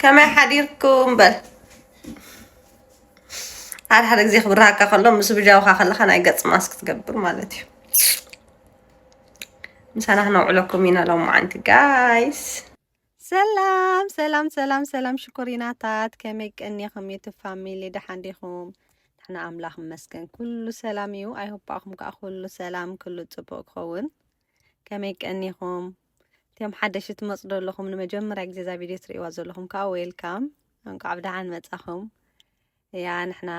ከመይ ሓዲርኩም በል ሓደ ሓደ ግዜ ክብርሃካ ከሎ ምስ ብጃውካ ከለካ ናይ ገጽ ማስክ ትገብር ማለት እዩ ምሳና ክነውዕለኩም ኢና ሎማዓንቲ ጋይስ ሰላም ሰላም ሰላም ሰላም ሽኮሪናታት ከመይ ቀኒኹም ዩቱብ ፋሚሊ ደሓን ዲኹም ንሕና ኣምላኽ መስገን ኩሉ ሰላም እዩ ኣይሆባኹም ከዓ ኩሉ ሰላም ኩሉ ፅቡቅ ክኸውን ከመይ ቀኒኹም እቶም ሓደሽቲ ትመጹ ዘለኹም ንመጀመርያ ግዜ እዛ ቪድዮ ትርእይዋ ዘለኹም ከዓ ዌልካም እንቋዕ ብደሓን መጻኹም ያ ንሕና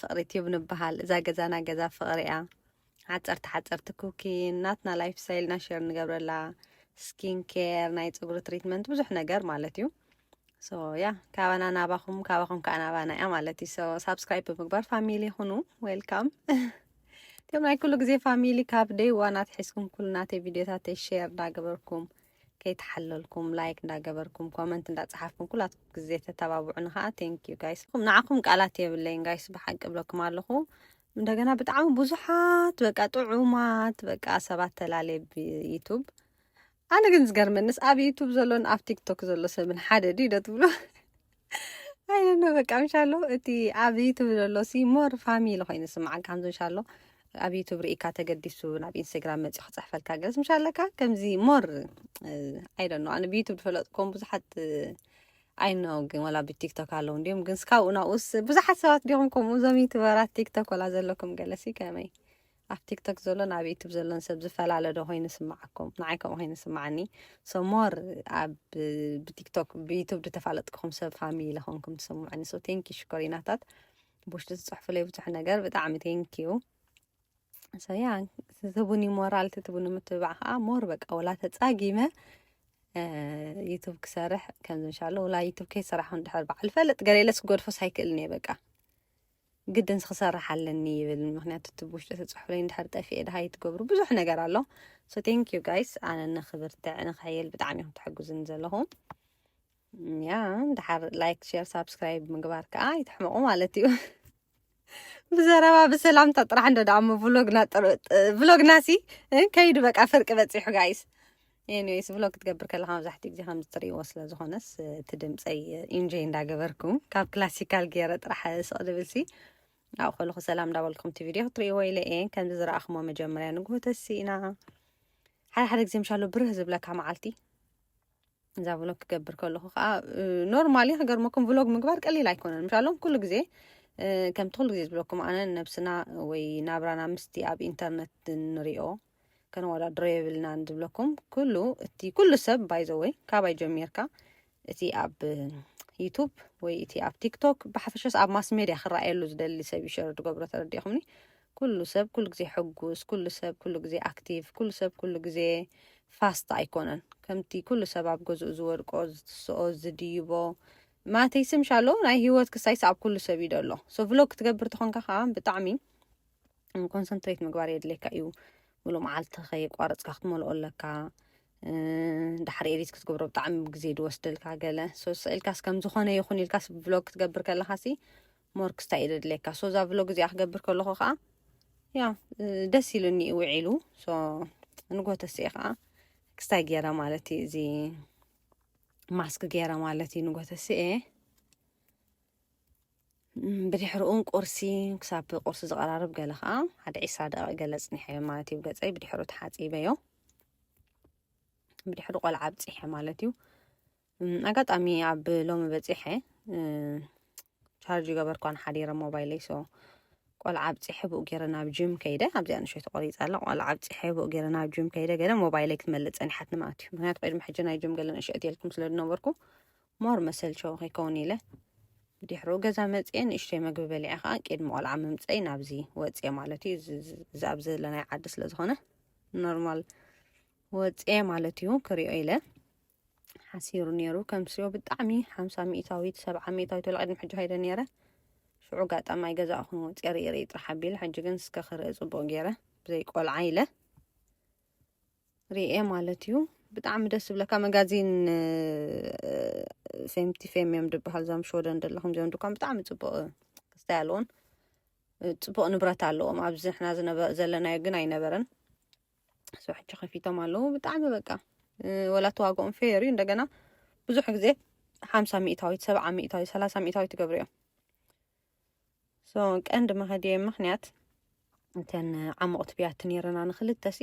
ፍቕሪ ቲዩብ ንበሃል እዛ ገዛና ገዛ ፍቕሪ እያ ሓፀርቲ ሓፀርቲ ኩኪን ናትና ላይፍ ስታይልና ሸር ንገብረላ ስኪን ኬር ናይ ፀጉሪ ትሪትመንት ብዙሕ ነገር ማለት እዩ ሶ ያ ካባና ናባኹም ካባኹም ከዓ ናባና እያ ማለት እዩ ሶ ሳብስክራይብ ብምግባር ፋሚሊ ይኹኑ ዌልካም ከም ናይ ኩሉ ግዜ ፋሚሊ ካብ ደይ ዋን ኣትሒዝኩም ኩሉ ናተይ ቪድዮታተይ ሼር እንዳገበርኩም ከይተሓለልኩም ላይክ እንዳገበርኩም ኮመንት እንዳጸሓፍኩም ኩላትኩም ግዜ ተተባብዑኒ ከዓ ቴንክ ዩ ጋይስ ኹም ንዓኹም ቃላት የብለይን ጋይስ ብሓቂ ብለኩም ኣለኹ እንደገና ብጣዕሚ ብዙሓት በቃ ጥዑማት በቃ ሰባት ተላለየ ብዩቱብ ኣነ ግን ዝገርመንስ ኣብ ዩቱብ ዘሎን ኣብ ቲክቶክ ዘሎ ሰብን ሓደ ድዩ ዶ ትብሉ ኣይነ በቃ ምሻሎ እቲ ኣብ ዩቱብ ዘሎ ሲ ሞር ፋሚሊ ኮይኑ ስምዓን ካምዞ እንሻሎ ኣብ ዩቱብ ርኢካ ተገዲሱ ናብ ኢንስታግራም መፂኡ ክፅሕፈልካ ገለስ ምሻ ኣለካ ከምዚ ሞር ኣይደኖ ኣነ ብዩቱብ ዝፈለጥኩም ብዙሓት ኣይኖ ግን ወላ ብቲክቶክ ኣለዉ እንዲም ግን ስካብኡ ናብኡስ ብዙሓት ሰባት ዲኹም ከምኡ እዞም ዩቱበራት ቲክቶክ ወላ ዘለኩም ገለሲ ከመይ ኣብ ቲክቶክ ዘሎን ኣብ ዩቱብ ዘሎን ሰብ ዝፈላለ ዶ ኮይኑ ስምዓኩም ንዓይ ከምኡ ኮይኑ ስምዓኒ ሶ ሞር ኣብ ብቲክቶክ ብዩቱብ ዝተፋለጥኩም ሰብ ፋሚሊ ለኾንኩም ትስምዑኒ ሶ ቴንኪ ሽኮሪናታት ብውሽጢ ዝፅሕፉለይ ብዙሕ ነገር ብጣዕሚ ቴንኪዩ ሰያ ትትቡኒ ሞራል ትትቡኒ ምትብባዕ ከዓ ሞር በቃ ወላ ተፃጊመ ዩቱብ ክሰርሕ ከምዚ እንሻሎ ወላ ዩቱብ ከይሰራሕኹን ድሕር በዓል ፈልጥ ገለ ኢለስ ክገድፎስ ኣይክእልን እየ በቃ ግድንስ ክሰርሕ ኣለኒ ይብል ምክንያቱ እቲ ብውሽጢ ተፅሑፍለይ እንድሕር ጠፊኤ ድሃይ ትገብሩ ብዙሕ ነገር ኣሎ ሶ ቴንክ ዩ ጋይስ ኣነ ንክብርትዕ ንክሕየል ብጣዕሚ ኢኹም ትሕግዙኒ ዘለኹም ያ ድሓር ላይክ ሼር ሳብስክራይብ ምግባር ከዓ ይትሕመቑ ማለት እዩ ብዘረባ ብሰላምታ ጥራሕ እንዶ ደኣ እሞ ብሎግና ጥር- ጥ- ብሎግና ሲ እ፣ ከይዱ በቃ ፍርቂ በፂሑ ጋይስ ኤኒዌይስ ቭሎግ ክትገብር ከለካ መብዛሕትኡ ግዜ ከምዚ ትርእይዎ ስለ ዝኾነስ እቲ ድምፀይ ኢንጆይ እንዳገበርኩ ካብ ክላሲካል ገይረ ጥራሕ ስቕ ድብልሲ ኣብኡ ከለኹ ሰላም እንዳበልኩም እቲ ቪድዮ ክትርእይዎ ኢለ እየ ከምዚ ዝረኣኽሞ መጀመርያ ንግሆ ተሲእና ሓደ ሓደ ግዜ ምሻሎ ብርህ ዝብለካ መዓልቲ እዛ ቭሎግ ክገብር ከለኹ ከዓ ኖርማሊ ክገርመኩም ቭሎግ ምግባር ቀሊል ኣይኮነን ምሻሎም ኩሉ ግዜ ከምቲ ኩሉ ግዜ ዝብለኩም ኣነ ነብስና ወይ ናብራና ምስቲ ኣብ ኢንተርነት ንሪኦ ከነወዳድሮ የብልናን ዝብለኩም ኩሉ እቲ ኩሉ ሰብ ባይዘወይ ካባይ ጀሚርካ እቲ ኣብ ዩቱብ ወይ እቲ ኣብ ቲክቶክ ብሓፈሻስ ኣብ ማስ ሜድያ ክረኣየሉ ዝደሊ ሰብ ይሸር ዝገብሮ ተረዲኹምኒ ኩሉ ሰብ ኩሉ ግዜ ሕጉስ ኩሉ ሰብ ኩሉ ግዜ ኣክቲቭ ኩሉ ሰብ ኩሉ ግዜ ፋስት ኣይኮነን ከምቲ ኩሉ ሰብ ኣብ ገዝኡ ዝወድቆ ዝትስኦ ዝድይቦ ማተይ ስምሻሎ ናይ ሂወት ክሳይስ ኣብ ኩሉ ሰብ እዩ ደሎ ሶ ቭሎግ ክትገብር ተኾንካ ከዓ ብጣዕሚ ኮንሰንትሬት ምግባር የድልየካ እዩ ሙሉእ መዓልቲ ከየቋረፅካ ክትመልኦ ኣለካ ድሓር ኤዲት ክትገብሮ ብጣዕሚ ግዜ ድወስደልካ ገለ ሶ ስእልካስ ከም ዝኾነ ይኹን ኢልካስ ብሎግ ክትገብር ከለካ ሲ ሞርክስታ እዩ ደድልየካ ሶ እዛ ብሎግ እዚኣ ክገብር ከለኹ ከዓ ያ ደስ ኢሉኒ እዩ ውዒሉ ሶ ንጎተሲ ከዓ ክስታይ ገይረ ማለት እዩ እዚ ማስክ ገይረ ማለት እዩ ንጎተሲ እየ ብድሕርኡን ቁርሲ ክሳብ ቁርሲ ዝቐራርብ ገለ ከዓ ሓደ ዒስራ ደቂቕ ገለ ፅኒሐዮ ማለት እዩ ገፀይ ብድሕሩ ተሓፂበዮ ብድሕሩ ቆልዓ ኣብፂሐ ማለት እዩ ኣጋጣሚ ኣብ ሎሚ በፂሐ ቻርጅ ገበርኳን ሓዲረ ሞባይለይ ሶ ቆልዓ ኣብፂሐ ብኡ ገይረ ናብ ጅም ከይደ ኣብዚኣ ንሸይ ተቆሪፃ ኣላ ቆልዓ ኣብፂሐ ብኡ ገይረ ናብ ጅም ከይደ ገለ ሞባይለይ ክትመልእ ፀኒሓት ንማለት እዩ ምክንያቱ ቅድሚ ሕጂ ናይ ጅም ገለ ንእሸት የልኩም ስለ ዝነበርኩ ሞር መሰልቸዊ ከይከውን ኢለ ብድሕሩ ገዛ መፅኤ ንእሽተይ መግቢ በሊዐ ከዓ ቅድሚ ቆልዓ ምምፀይ ናብዚ ወፅኤ ማለት እዩ እዚ ኣብ ዘለናይ ዓዲ ስለ ዝኾነ ኖርማል ወፅኤ ማለት እዩ ክሪኦ ኢለ ሓሲሩ ነይሩ ከምስዮ ብጣዕሚ ሓምሳ ሚእታዊት ሰብዓ ሚእታዊት ወላ ቅድሚ ሕጂ ከይደ ነይረ ሽዑ ጋጣሚ ኣይገዛእኹን ወፅኤ ርኢ ርኢ ጥራሕ ኣቢለ ሕጂ ግን እስከ ክርኢ ፅቡቅ ገይረ ብዘይ ቆልዓ ኢለ ሪኤ ማለት እዩ ብጣዕሚ ደስ ዝብለካ መጋዚን ፌምቲ ፌም እዮም ድበሃል ዞም ሽወደን ዘለኹም ዚኦም ድኳን ብጣዕሚ ፅቡቅ ክስታይ ኣለዎን ፅቡቅ ንብረት ኣለዎም ኣብዚ ንሕና ዘለናዮ ግን ኣይነበረን ሶ ሕጂ ከፊቶም ኣለዉ ብጣዕሚ በቃ ወላ ተዋግኦም ፌር እዩ እንደገና ብዙሕ ግዜ ሓምሳ ሚእታዊት ሰብዓ ሚእታዊት ሰላሳ ሚእታዊት ይገብሩ እዮም ቀንዲ መኸዲየ ምክንያት እተን ዓሞቕቲ ብያቲ ነይረና ንክልተሲ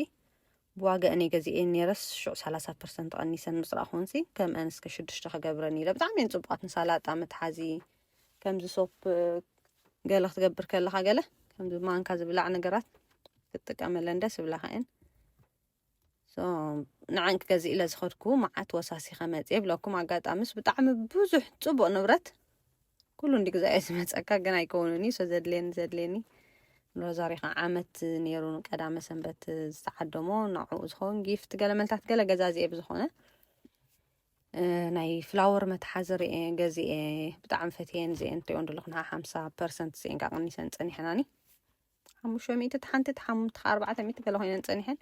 ብዋጋአን እየ ገዚኤን ነይረስ ሽዑ ሰላሳ ፐርሰንት ቀኒሰን ምስ ረኣኹንሲ ከምአን እስከ ሽዱሽተ ክገብረን ኢለ ብጣዕሚ እየን ፅቡቓት ንሳላጣ መትሓዚ ከምዚ ሶፕ ገለ ክትገብር ከለካ ገለ ከምዚ ማንካ ዝብላዕ ነገራት ክትጥቀመለን ደስ ይብላካ እየን ንዓንኪ ገዚእ ኢለ ዝኸድኩ መዓት ወሳሲኸ መፅ ይብለኩም ኣጋጣሚስ ብጣዕሚ ብዙሕ ፅቡቅ ንብረት ኩሉ እንዲ ግዛ እየ ዝመፀካ ግን ኣይከውንን እዩ ዘድልየኒ ዘድልየኒ ሮዛሪ ከዓ ዓመት ነይሩ ቀዳመ ሰንበት ዝተዓደሞ ንዕኡ ዝኸውን ጊፍት ገለ መልታት ገለ ገዛዚኤ ብዝኾነ ናይ ፍላወር መትሓዚ ርኤ ገዚኤ ብጣዕሚ ፈትየን ዚኤን ትሪኦ ንደለኹ ንዓ ሓምሳ ፐርሰንት ዚኤን ከዓ ቀኒሰን ፀኒሐናኒ ሓሙሽተ ሚእቲ እቲ ሓንቲ እቲ ሓሙምቲ ከዓ ኣርባዕተ ሚእቲ ገለ ኮይነን ፀኒሐን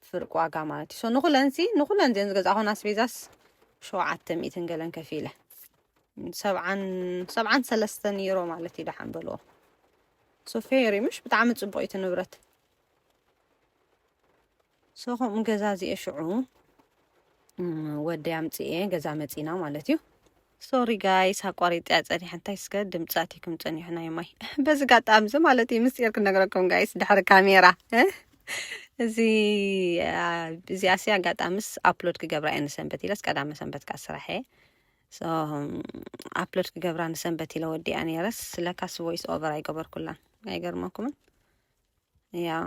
ፍርቂ ዋጋ ማለት እዩ ሶ ንኩለን ሲ ንኩለን እዚን ዝገዛእኹን ኣስቤዛስ ሸውዓተ ሚእትን ገለን ከፊ ኢለ ሰብዓን ሰብዓን ሰለስተን ዩሮ ማለት እዩ ደሓን በልዎ ሶ ፌሪ ምሽ ብጣዕሚ ፅቡቅ እዩ እቲ ንብረት ሶ ከምኡ ገዛዚኤ ሽዑ ወደይ ኣምጺኤ ገዛ መጺና ማለት እዩ። ሶሪ ጋይስ ኣቋሪጥያ ጸኒሐ እንታይ ስከ ድምጺ ኣትይኩም ጸኒሑ ናይ ማይ በዚ ጋጣሚ እዚ ማለት እዩ ምስጢር ክነግረኩም ጋይስ ድሕሪ ካሜራ እ? እዚ ኣ- እዚኣ ሲ ኣጋጣሚስ ኣፕሎድ ክገብራ እየ ንሰንበት ኢለስ ቀዳመ ሰንበት ከዓ ስራሕ እየ ሶ ኣፕሎድ ክገብራ ንሰንበት ኢለ ወዲኣ ነይረስ ስለካስ ቮይስ ኦቨር ኣይገበርኩላን ኣይገርመኩምን ያ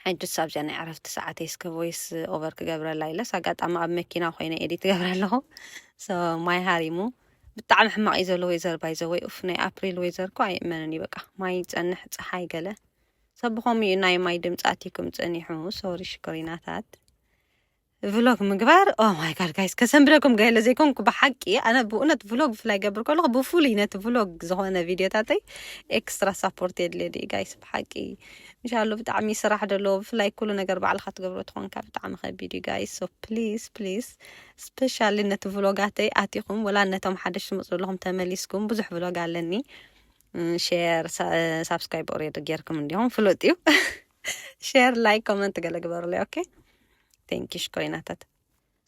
ሕጅስ ኣብዚኣ ናይ ዕረፍቲ ሰዓተይ እስከ ቮይስ ኦቨር ክገብረላ ኢለስ ኣጋጣሚ ኣብ መኪና ኮይነ ኤዲት ትገብረ ኣለኹ ማይ ሃሪሙ ብጣዕሚ ሕማቅ እዩ ዘሎ ወይዘር ባይዘ ወይ ኡፍ ናይ ኣፕሪል ወይዘር እኮ ኣይእመንን እዩ በቃ ማይ ይፀንሕ ፀሓይ ገለ ሰብኾም እዩ ናይ ማይ ድምፃት እዩ ክምፀኒሑ ሶሪ ሽኮሪናታት ቭሎግ ምግባር ኦ ማይ ጋድ ጋይስ ከሰንብደኩም ገለ ዘይኮንኩ ብሓቂ ኣነ ብእውነት ቭሎግ ብፍላይ ገብር ከለኹ ብፍሉይ ነቲ ቭሎግ ዝኾነ ቪድዮታተይ ኤክስትራ ሳፖርት የድልየ ድዩ ጋይስ ብሓቂ እንሻሉ ብጣዕሚ ስራሕ ደሎ ብፍላይ ኩሉ ነገር ባዕልካ ትገብሮ ትኾንካ ብጣዕሚ ከቢድ እዩ ጋይስ ሶ ፕሊስ ፕሊስ ስፔሻሊ ነቲ ቭሎጋተይ ኣቲኹም ወላ ነቶም ሓደሽ ትመፁ ዘለኹም ተመሊስኩም ብዙሕ ቭሎግ ኣለኒ ሼር ሳብስክራይብ ኦሬዲ ጌርኩም እንዲኹም ፍሉጥ እዩ ሼር ላይክ ኮመንት ገለ ግበሩለይ ኦኬ ቴንኪ ሽኮሪናታት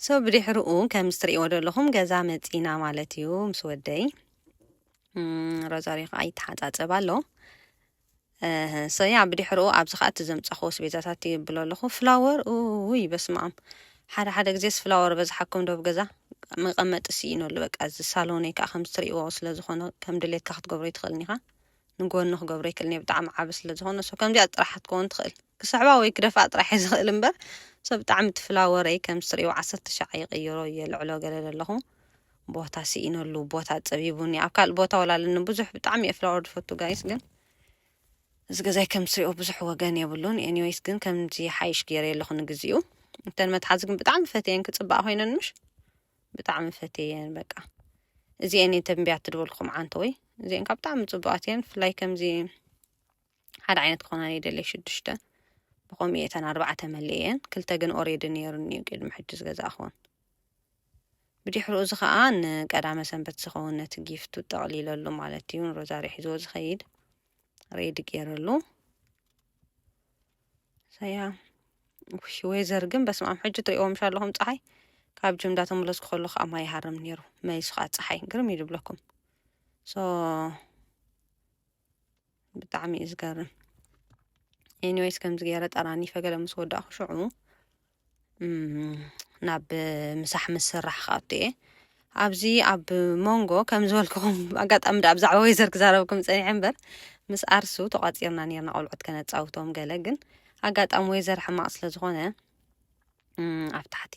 ሶ ብድሕርኡ ከም ዝትርእይዎ ዘለኹም ገዛ መፂና ማለት እዩ ምስ ወደይ ሮዛሪዮ ከዓ ይተሓፃፀብ ኣሎ ሰያ ብድሕርኡ ኣብዚ ከዓ እቲ ዘምፀኽዎ ስቤዛታት ይብሎ ኣለኹ ፍላወር ውይ በስማም ሓደ ሓደ ግዜስ ፍላወር በዝሓኩም ዶብ ገዛ መቐመጢ ስኢኖሉ በቃ እዚ ሳሎነይ ከዓ ከም ዝትርእይዎ ስለ ዝኾነ ከም ድሌትካ ክትገብሮ ይትኽእልን ኢኻ ንጎኒ ክገብሮ ኣይክእልን እየ ብጣዕሚ ዓቢ ስለ ዝኮነ so ከምዚኣ ጥራሕ ክትከውን ትክእል ክስዕባ ወይ ክደፍኣ ጥራሕ እየ ዝክእል እምበር so ብጣዕሚ ትፍላ ወረይ ከምዚ ትርእይዎ ዓሰርተ ሻዕ ይቅይሮ የልዕሎ ገለ ለለኩ ቦታ ስኢነሉ ቦታ ጸቢቡኒ ኣብ ካልእ ቦታ ወላ ኣለኒ ብዙሕ ብጣዕሚ እየ ፍላወር ዝፈቱ ጋይስ ግን እዚ ገዛይ ከም ትሪኦ ብዙሕ ወገን የብሉን ኤኒዌይስ ግን ከምዚ ሓይሽ ገይረ ኣለኹ ንግዚኡ እተን መትሓዚ ግን ብጣዕሚ ፈትየን ክፅባእ ኮይነን ምሽ ብጣዕሚ ፈትየየን በቃ እዚኤን እየ ተንብያ ትድበልኩም ዓንተወይ እዚኤን ካብ ብጣዕሚ ፅቡቃት እየን ብፍላይ ከምዚ ሓደ ዓይነት ክኾና ይደልየ ሽዱሽተ ብኸምኡ እየ እተን ኣርባዕተ መሊኤን ክልተ ግን ኦሬዲ ነይሩኒ እዩ ቅድሚ ሕጂ ዝገዛእኹን ብድሕሩ እዚ ከዓ ንቀዳመ ሰንበት ዝኸውን ነቲ ጊፍቱ ጠቕሊለሉ ማለት እዩ ንሮዛሪ ሒዝዎ ዝኸይድ ሬዲ ገይረሉ ሰያ ውሽ ወይ ዘርግም በስማም ሕጂ ትሪእዎም ሻለኹም ፀሓይ ካብ ጅም እንዳተመለስኩ ከሎ ከዓ ማይ ይሃርም ነይሩ መሊሱ ከዓ ፀሓይ ግርም እዩ ዝብለኩም ሶ ብጣዕሚ እዩ ዝገርም ኤኒዌይስ ከምዚ ገይረ ጠራኒፈ ገለ ምስ ወዳእኹ ሽዑ ናብ ምሳሕ ምስ ስራሕ ክኣቱ እየ ኣብዚ ኣብ ሞንጎ ከም ዝበልክኹም ኣጋጣሚ ዳ ብዛዕባ ወይዘር ክዛረብኩም ፀኒሐ እምበር ምስ ኣርሱ ተቋፂርና ነርና ቆልዑት ከነፃውቶም ገለ ግን ኣጋጣሚ ወይዘር ሕማቕ ስለ ዝኾነ ኣብ ታሕቲ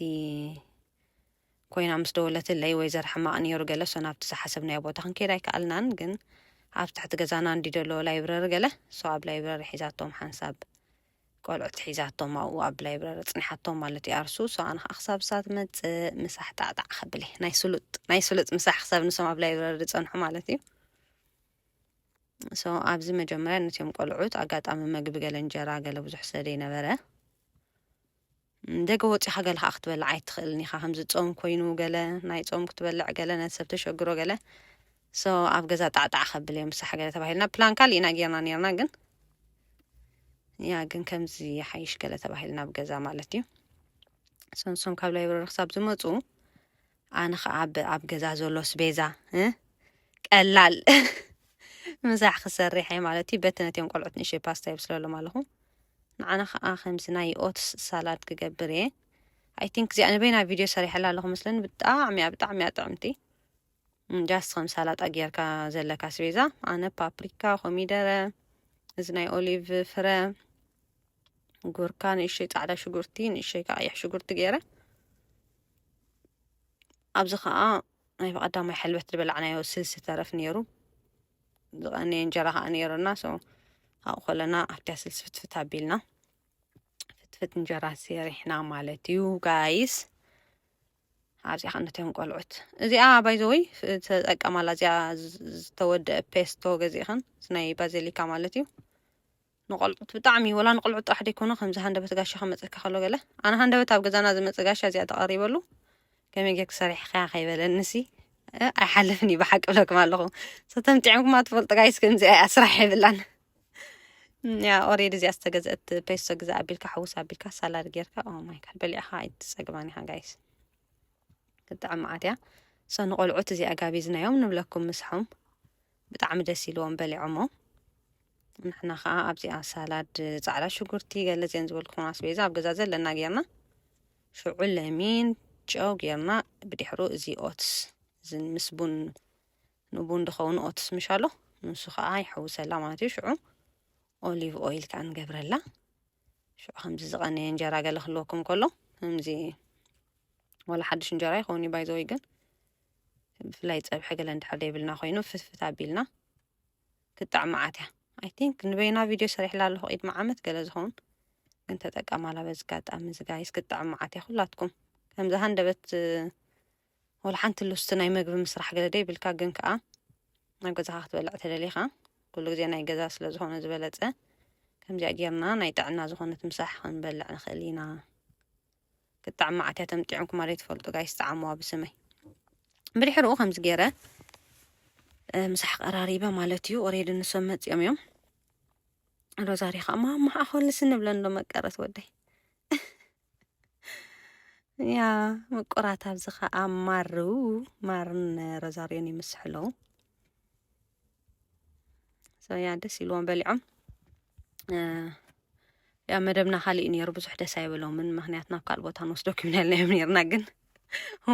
ኮይና ምስ ደወለትለይ ወይዘር ሕማቕ ነይሩ ገለ ሶ ናብቲ ዝሓሰብናዮ ቦታ ክንከይድ ኣይከኣልናን ግን ኣብ ትሕቲ ገዛና እንዲ ደሎ ላይብረሪ ገለ ሶ ኣብ ላይብረሪ ሒዛቶም ሓንሳብ ቆልዑት ሒዛቶም ኣብኡ ኣብ ላይብረሪ ጽኒሓቶም ማለት እዩ ኣርሱ ሶ ኣነ ከኣ ክሳብ ንሳ ትመጽእ ምሳሕ ጣዕጣዕ ከብል እየ ናይ ስሉጥ ናይ ስሉጥ ምሳሕ ክሳብ ንሶም ኣብ ላይብረሪ ዝጸንሑ ማለት እዩ ሶ ኣብዚ መጀመርያ ነትዮም ቆልዑት ኣጋጣሚ መግቢ ገለ እንጀራ ገለ ብዙሕ ስለ ዘይነበረ ደገ ወጺኻ ገለ ከኣ ክትበልዕ ኣይትኽእልን ኢኻ ከምዚ ጾም ኮይኑ ገለ ናይ ጾም ክትበልዕ ገለ ነቲ ሰብ ተሸግሮ ገለ ሶ ኣብ ገዛ ጣዕጣዕ ከብል እዮም ምሳሕ ገለ ተባሂልና ፕላን ካሊእ ኢና ጌርና ኔርና ግን ያ ግን ከምዚ ይሓይሽ ገለ ተባሂልና ኣብ ገዛ ማለት እዩ ሰንሶም ካብ ላይብረሪ ክሳብ ዝመፁ ኣነ ከዓ ኣብ ገዛ ዘሎ ስቤዛ ቀላል ምሳሕ ክሰርሕ እየ ማለት እዩ በቲ ነትዮም ቆልዑት ንእሸይ ፓስታ የብስለሎም ኣለኹ ንዓና ከዓ ከምዚ ናይ ኦትስ ሳላድ ክገብር እየ ኣይ ቲንክ እዚኣ ንበይና ቪድዮ ሰሪሐላ ኣለኹ ምስለን ብጣዕሚ እያ ብጣዕሚ እያ ጥዕምቲ ጃስት ከም ሳላጣ ጌርካ ዘለካ ስቤዛ ኣነ ፓፕሪካ ኮሚደረ እዚ ናይ ኦሊቭ ፍረ ጉርካ ንእሽተይ ፃዕዳ ሽጉርቲ ንእሽተይ ከዓ ቀይሕ ሽጉርቲ ገይረ ኣብዚ ከዓ ናይ ብቐዳማይ ሕልበት ዝበላዕናዮ ስልሲ ተረፍ ነይሩ ዝቐነየ እንጀራ ከዓ ነይሩና ሰው ኣብኡ ከለና ኣብቲያ ስልሲ ፍትፍት ኣቢልና ፍትፍት እንጀራ ሰሪሕና ማለት እዩ ጋይስ ኣብዚኣ ከነትዮም ቆልዑት እዚኣ ባይዘወይ ተጠቀማላ እዚኣ ዝተወደአ ፔስቶ ገዚእኽን ናይ ባዘሊካ ማለት እዩ ንቆልዑት ብጣዕሚ ወላ ንቆልዑት ጥራሕ ደይኮነ ከምዚ ሃንደበት ጋሻ ክመጸካ ከሎ ገለ ኣነ ሃንደበት ኣብ ገዛና ዝመጸ ጋሻ እዚኣ ተቐሪበሉ ከመይ ጌርክ ሰሪሕካ ከይበለንሲ ኣይሓልፍን እዩ ብሓቂ ብለኩም ኣለኹ ሰተምጢዖምኩማ ትፈልጡ ጋይስ ከምዚኣ እያ ስራሕ የብላን ያ ኦሬድ እዚኣ ዝተገዘአት ፔሶ ግዛ ኣቢልካ ሕውስ ኣቢልካ ሳላድ ጌርካ ኦ ማይ ጋድ በሊዕኻ ኣይትጸግባን ኢኻ ጋይስ ክጥዕም መዓት እያ ሰ ንቆልዑት እዚኣ ጋቢዝናዮም ንብለኩም ምስሖም ብጣዕሚ ደስ ኢልዎም በሊዖሞ። ንሕና ከዓ ኣብዚኣ ሳላድ ፃዕዳ ሽጉርቲ ገለ እዚአን ዝበልኩኹም ኣስቤዛ ኣብ ገዛ ዘለና ጌርና ሽዑ ለሚን ጨው ጌርና ብድሕሩ እዚ ኦትስ እዚ ምስ ቡን ንቡን ድኸውን ኦትስ ምሽ ኣሎ ንሱ ከዓ ይሕውሰላ ማለት እዩ ሽዑ ኦሊቭ ኦይል ከዓ ንገብረላ ሽዑ ከምዚ ዝቐነየ እንጀራ ገለ ክህልወኩም ከሎ ከምዚ ወላ ሓድሽ እንጀራ ይኸውን እዩ ባይዘወይ ግን ብፍላይ ፀብሒ ገለ እንድሕር ዘይብልና ኮይኑ ፍትፍት ኣቢልና ክትጣዕም መዓት እያ ኣይ ቲንክ ንበይና ቪድዮ ሰሪሕላ ኣለኹ ኢድ መዓመት ገለ ዝኸውን ግን ተጠቀማላ በዚ ኣጋጣሚ እዚ ጋይስ ክትጣዕም መዓት እያ ኩላትኩም ከምዚ ሃንደበት ወላ ሓንቲ ሉስቲ ናይ መግቢ ምስራሕ ገለ ደይብልካ ግን ከዓ ናብ ገዛኻ ክትበልዕ ተደሊኻ ኩሉ ግዜ ናይ ገዛ ስለ ዝኾነ ዝበለፀ ከምዚኣ ጌርና ናይ ጥዕና ዝኾነት ምሳሕ ክንበልዕ ንኽእል ኢና ክጣዕ መዓት እያ ተምጢዖምኩማ ዘይትፈልጡ ጋይስ ጸዓሙዋ ብስመይ ብድሕርኡ ከምዚ ገይረ ምሳሕ ቀራሪበ ማለት እዩ ኦሬዲ ንሶም መፂኦም እዮም ሮዛሪ ከዓ ማማ ኣኸልስ ንብለን ዶ መቀረት ወደይ ያ ምቁራት ኣብዚ ከዓ ማሩ ማርን ሮዛሪዮን ይምስሑ ኣለዉ ሰያ ደስ ኢልዎም በሊዖም ያ መደብና ካሊእ ነይሩ ብዙሕ ደስ ኣይበሎምን ምክንያት ናብ ካልእ ቦታ ንወስዶ ክብናልናዮም ነርና ግን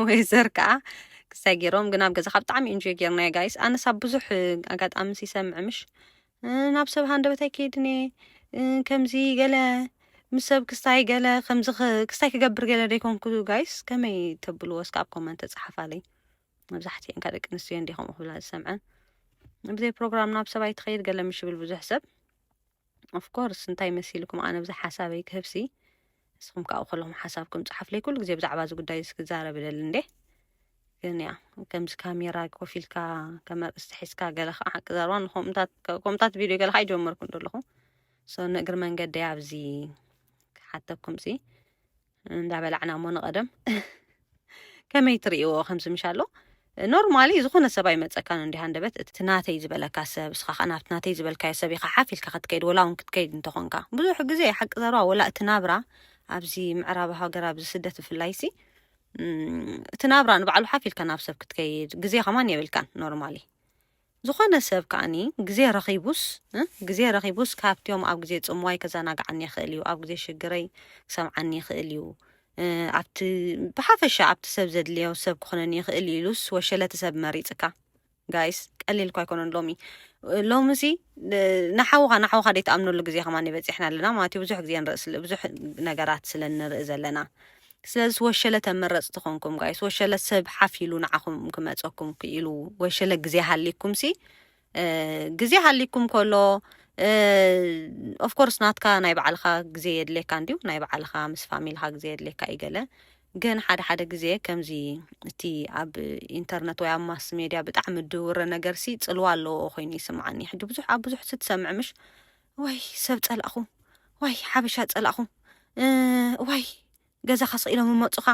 ወይ ዘር ከዓ ክሳይ ገይሮም ግን ኣብ ገዛ ካብ ብጣዕሚ ኢንጆ ገይርናዮ ጋይስ ኣነስ ኣብ ብዙሕ ኣጋጣሚ ሲሰምዕ ምሽ ናብ ሰብ ሃንደበት ኣይከይድን እየ ከምዚ ገለ ምስ ሰብ ክስታይ ገለ ከምዚ ክስታይ ክገብር ገለ ደይኮንኩ ጋይስ ከመይ ተብልዎ እስከ ኣብ ኮመንት ተፅሓፋለይ መብዛሕትኤን ከ ደቂ ኣንስትዮ እየን ድየ ከምኡ ክብላ ዝሰምዐን ብዘይ ፕሮግራም ናብ ሰብኣይ ትኸይድ ገለ ምሽ ይብል ብዙሕ ሰብ ኦፍኮርስ እንታይ መሲልኩም ኣነ ብዛ ሓሳበይ ክህብሲ ንስኹም ካብኡ ከለኹም ሓሳብኩም ጸሓፍለይ ኩሉ ግዜ ብዛዕባ እዚ ጉዳይ እዚ ክዛረብ ይደሊ እንዴ ግን ያ ከምዚ ካሜራ ኮፍ ኢልካ ከመርእስቲ ሒዝካ ገለ ከዓ ሓቂ ዘረባ ንኮምታት ቪድዮ ገለ ከዓ ይጀመርኩም ደለኹ ሶ ንእግሪ መንገዲ ኣብዚ ክሓተኩም ሲ እንዳበላዕና እሞ ንቐደም ከመይ ትርእይዎ ከምዚ ምሻ ኣሎ ኖርማሊ ዝኾነ ሰብ ኣይመፀካን እንዲ ሃንደበት እቲ ናተይ ዝበለካ ሰብ እስኻ ከዓ ናብቲ ናተይ ዝበልካዮ ሰብ ኢኻ ሓፍ ኢልካ ክትከይድ ወላ እውን ክትከይድ እንተኾንካ ብዙሕ ግዜ ሓቂ ዘረባ ወላ እቲ ናብራ ኣብዚ ምዕራብ ሃገር ኣብዚ ስደት ብፍላይ ሲ እቲ ናብራ ንባዕሉ ሓፍ ኢልካ ናብ ሰብ ክትከይድ ግዜ ከማን የብልካን ኖርማሊ ዝኾነ ሰብ ከኣ ግዜ ረኺቡስ ግዜ ረኺቡስ ካብቲኦም ኣብ ግዜ ጽምዋይ ከዘናግዓኒ ይኽእል እዩ፣ ኣብ ግዜ ሽግረይ ክሰምዓኒ ይኽእል እዩ፣ ኣብቲ ብሓፈሻ ኣብቲ ሰብ ዘድልዮ ሰብ ክኾነኒ ይኽእል እዩ ኢሉስ ወሸለቲ ሰብ መሪጽካ ጋይስ ቀሊል እኳ ኣይኮነን ሎሚ ሎሚ ሲ ንሓውኻ ንሓውኻ ደይትኣምነሉ ግዜ ከማን በፂሕና ኣለና ማለት እዩ ብዙሕ ግዜ ንርኢ ብዙሕ ነገራት ስለ ንርኢ ዘለና ስለዝስ ወሸለ ተመረጽቲ ኮንኩም ጋይስ ወሸለ ሰብ ሓፍ ኢሉ ንዓኹም ክመጸኩም ክኢሉ ወሸለ ግዜ ሃሊኩም ሲ ግዜ ሃሊኩም ከሎ ኦፍኮርስ ናትካ ናይ ባዕልኻ ግዜ የድልየካ እንዲዩ ናይ ባዕልኻ ምስ ፋሚልኻ ግዜ የድልየካ እዩ ገለ ግን ሓደ ሓደ ግዜ ከምዚ እቲ ኣብ ኢንተርነት ወይ ኣብ ማስ ሜድያ ብጣዕሚ ድውረ ነገርሲ ጽልዋ ኣለዎ ኮይኑ ይስምዓኒ ሕጂ ብዙሕ ኣብ ብዙሕ ስትሰምዕ ምሽ እዋይ ሰብ ጸላእኹ ዋይ ሓበሻ ጸላእኹ እዋይ ገዛኻ ስኢሎም እመፁኻ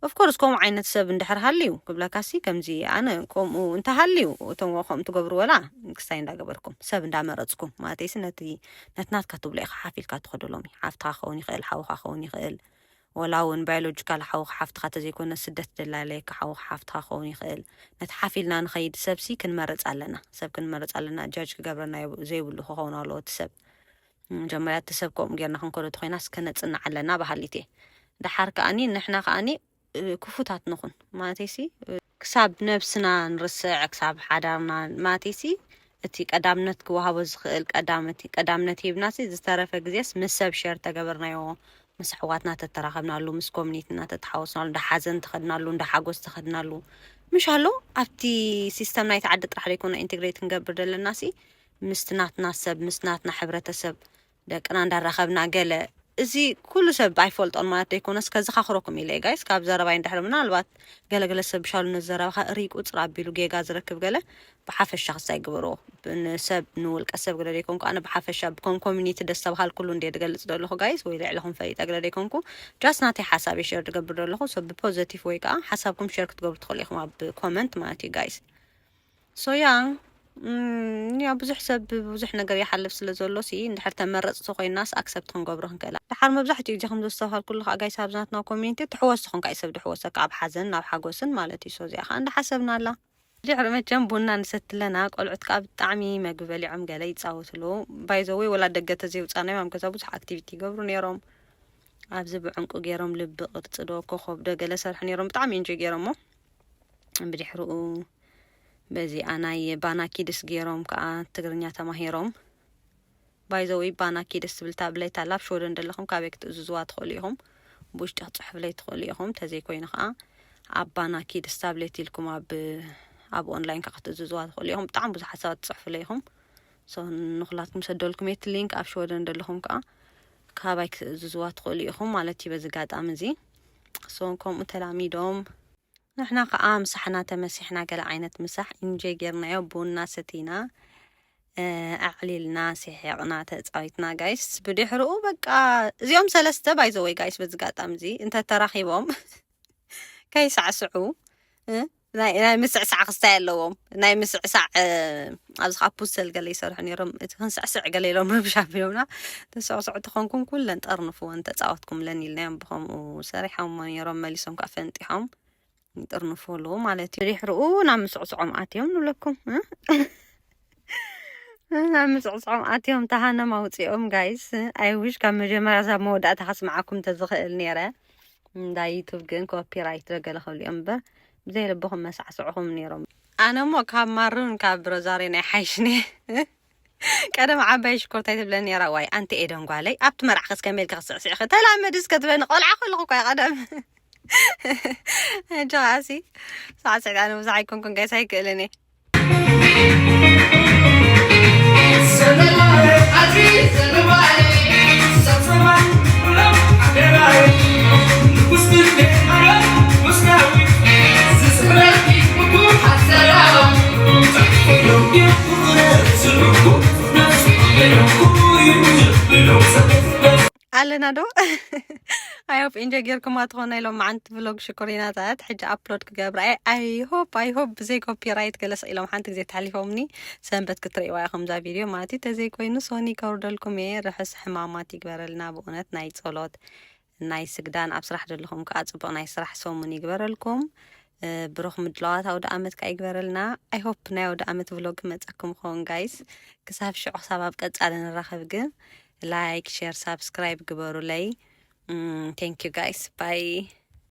ኦፍኮርስ ከምኡ ዓይነት ሰብ እንድሕር ሃልዩ ክብለካሲ ከምዚ ኣነ ከምኡ እንተሃልዩ እቶም ከምኡ ትገብሩ ወላ ክስታይ እንዳገበርኩም ሰብ እንዳመረፅኩም ማለተይሲ ነቲ ነትናትካ ትብሎ ኢኻ ሓፊልካ ትኸደሎም ሓፍትኻ ክኸውን ይኽእል ሓውኻ ክኸውን ይኽእል ወላ ውን ባዮሎጂካል ሓውኻ ሓፍትኻ ተዘይኮነ ስደት ደላለይካ ሓውኻ ሓፍትኻ ክኸውን ይኽእል ነቲ ሓፍ ኢልና ንኸይድ ሰብ ሲ ክንመርጽ ኣለና ሰብ ክንመርጽ ኣለና ጃጅ ክገብረና የብ ዘይብሉ ክኸውን ኣለዎ እቲ ሰብ መጀመርያ እቲ ሰብ ከምኡ ጌርና ክንከዶ ተኾይናስ ከነጽንዕ ኣለና በሃሊት እየ ደሓር ከኣኒ ንሕና ከኣኒ ክፉታት ንኹን ማለተይሲ ክሳብ ነብስና ንርስዕ ክሳብ ሓዳርና ማቲሲ እቲ ቀዳምነት ክወሃቦ ዝኽእል ቀዳምት ቀዳምነት ሂብናሲ ዝተረፈ ግዜስ ምስ ሰብ ሸር ተገበርናዮ ምስ ኣሕዋትና ተተራኸብናሉ ምስ ኮሚኒትና ተተሓወስናሉ እንዳ ሓዘን ተኸድናሉ እንዳ ሓጎስ ተኸድናሉ ምሻሎ ኣብቲ ሲስተም ናይቲ ዓዲ ጥራሕ ዘይኮነ ኢንቴግሬት ክንገብር ደለናሲ ምስቲ ናትና ሰብ ምስ ናትና ሕብረተሰብ ደቅና እንዳራኸብና ገለ እዚ ኩሉ ሰብ ኣይፈልጦን ማለት ደይኮነስ ከዘኻኽረኩም ኢለ ጋይስ ካብ ዘረባይ እንድሕር ምናልባት ገለ ገለ ሰብ ብሻሉ ነዚ ዘረባኻ እርይ ቁፅር ኣቢሉ ጌጋ ዝረክብ ገለ ብሓፈሻ ክሳይ ግበርዎ ንሰብ ንውልቀ ሰብ ግለ ደይኮንኩ ኣነ ብሓፈሻ ብኮም ኮሚኒቲ ደስ ተባሃል ኩሉ እንድየ ድገልፅ ደለኹ ጋይስ ወይ ልዕለኹም ፈሊጠ ግለ ደይኮንኩ ጃስ ናተይ ሓሳብ ሸር ድገብር ደለኹ ሶ ብፖዘቲቭ ወይ ከዓ ሓሳብኩም ሸር ክትገብሩ ትኽእሉ ኢኹም ኣብ ኮመንት ማለት እዩ ጋይስ ሶያ እም ያው ብዙሕ ሰብ ብብዙሕ ነገር ይሓልፍ ስለ ዘሎ ሲ እንድሕር ተመረጽቲ ኮይናስ ኣክሰፕት ክንገብሮ ክንክእል ኢና። ደሓር መብዛሕትኡ ግዜ ከም ዘስተብሃልኩሉ ከኣ ጋይስ ኣብዚ ናትና ኮሚዩኒቲ ትሕወሶ ኮንካ እዩ ሰብ ዝሕወሰካ ኣብ ሓዘን ናብ ሓጎስን ማለት እዩ ሶ እዚኣ ከኣ እንዳሓሰብናላ ድሕሪ መቸም ቡና ንሰቲ ኣለና ቆልዑት ከኣ ብጣዕሚ መግቢ በሊዖም ገለ ይጻወቱ ኣለዉ ባይ ዘ ወይ ወላ ደገ ተዘይውጻናዮም ኣብ ገዛ ብዙሕ ኣክቲቪቲ ይገብሩ ኔሮም ኣብዚ ብዕንቁ ጌሮም ልቢ ቅርጺ ዶ ኮኾብ ዶ ገለ ሰርሑ ኔሮም ብጣዕሚ ኢንጆይ ጌሮሞ ብድሕርኡ በዚኣ ናይ ባና ኪድስ ጌሮም ከኣ ትግርኛ ተማሂሮም። ባይ ዘ ወይ ባና ኪድስ ትብል ታብሌት ኣላ ኣብ ሽወደን ደለኹም ካበይ ክትእዝዝዋ ትኽእሉ ኢኹም ብውሽጢ ክትጽሕፍለይ ትኽእሉ ኢኹም ተዘይ ኮይኑ ከኣ ኣብ ባና ኪድስ ታብሌት ኢልኩም ኣብ ኣብ ኦንላይን ከኣ ክትእዝዝዋ ትኽእሉ ኢኹም ብጣዕሚ ብዙሕ ሓሳባት ትጽሕፍለይ ኢኹም ሶ ንኹላትኩም ሰደልኩም የት ሊንክ ኣብ ሽወደን ደለኹም ከኣ ካባይ ክትእዝዝዋ ትኽእሉ ኢኹም ማለት እዩ በዚ ኣጋጣሚ እዚ ሶ ከምኡ ተላሚዶም ንሕና ከኣ ምሳሕና ተመሲሕና ገለ ዓይነት ምሳሕ ኢንጆይ ጌርናዮ ቡና ሰቲና ኣዕሊልና ሲሒቕና ተጻዊትና ጋይስ ብድሕርኡ በቃ እዚኦም ሰለስተ ባይዘወይ ጋይስ በዚ ጋጣሚ እዚ እንተ ተራኺቦም ከይሳዕስዑ እ፣ ናይ ናይ ምስዕሳዕ ክስታይ ኣለዎም ናይ ምስዕሳዕ እ፣ ኣብዚ ካብ ፑሰል ገለ ይሰርሑ ነይሮም እቲ ክንስዕስዕ ገለ ኢሎም ረብሻ ኣቢሎምና ተሰዕስዑ ተኾንኩም ኩለን ጠርንፍወን ተፃወትኩምለን ኢልናዮም ብኸምኡ ሰሪሖሞ ነይሮም መሊሶም ከዓ ፈንጢሖም ይጥርንፍሉ ማለት እዩ ድሕርኡ ናብ ምስዕስዖም ኣትዮም ንብለኩም እ? ናብ ምስዕስዖም ኣትዮም ተሃነም ኣውፂኦም ጋይስ ኣይውሽ ካብ መጀመርያ ሳብ መወዳእታ ከስምዓኩም ተዝኽእል ነይረ እንዳ ዩቱብ ግን ኮፒራይት ደገለ ክብሉ እዮም እምበር ብዘይ ልብኹም መሳዕስዕኹም ነይሮም ኣነ እሞ ካብ ማሩን ካብ ሮዛርዮን ኣይሓይሽን እየ ቀደም ዓባይ ሽኮርታ ትብለን ነራ ዋይ ኣንቲ ኤደን ጓለይ ኣብቲ መርዓ ከስ ከመይ ኢልካ ክስዕስዕ ከ ተላመዲ እስከ ትበኒ ቆልዓ ከለኹ እኳ ቀደም ሕጂ ከዓሲ ሳዕስዕት ኣነ ብዙሕ ኣይኮንኩን ጋይስ ኣይክእልን እየ ኣለና ዶ ኣይሆፕ ኢንጆይ ጌርኩማ ትኾኑ ናይ ሎማዓንቲ ቭሎግ ሽኮሪናታት ሕጂ ኣፕሎድ ክገብራ እየ ኣይሆፕ ኣይሆፕ ብዘይ ኮፒራይት ገለስ ኢሎም ሓንቲ ግዜ ተሓሊፎምኒ ሰንበት ክትርእይዋ ኢኹም እዛ ቪድዮ ማለት እዩ ተዘይኮይኑ ሶኒ ከውርደልኩም እየ ርሑስ ሕማማት ይግበረልና ብእውነት ናይ ጸሎት ናይ ስግዳን ኣብ ስራሕ ዘለኹም ከኣ ጽቡቅ ናይ ስራሕ ሰሙን ይግበረልኩም ብሩኽ ምድላዋት ኣውደኣመት ከኣ ይግበረልና ኣይ ሆፕ ናይ ኣውደኣመት ቭሎግ ክመጸኩም ይኸውን ጋይስ ክሳብ ሽዑ ክሳብ ኣብ ቀጻሊ ንራኸብ ግን ላይክ ሼር ሳብስክራይብ ግበሩለይ ቴንክ ዩ ጋይስ ባይ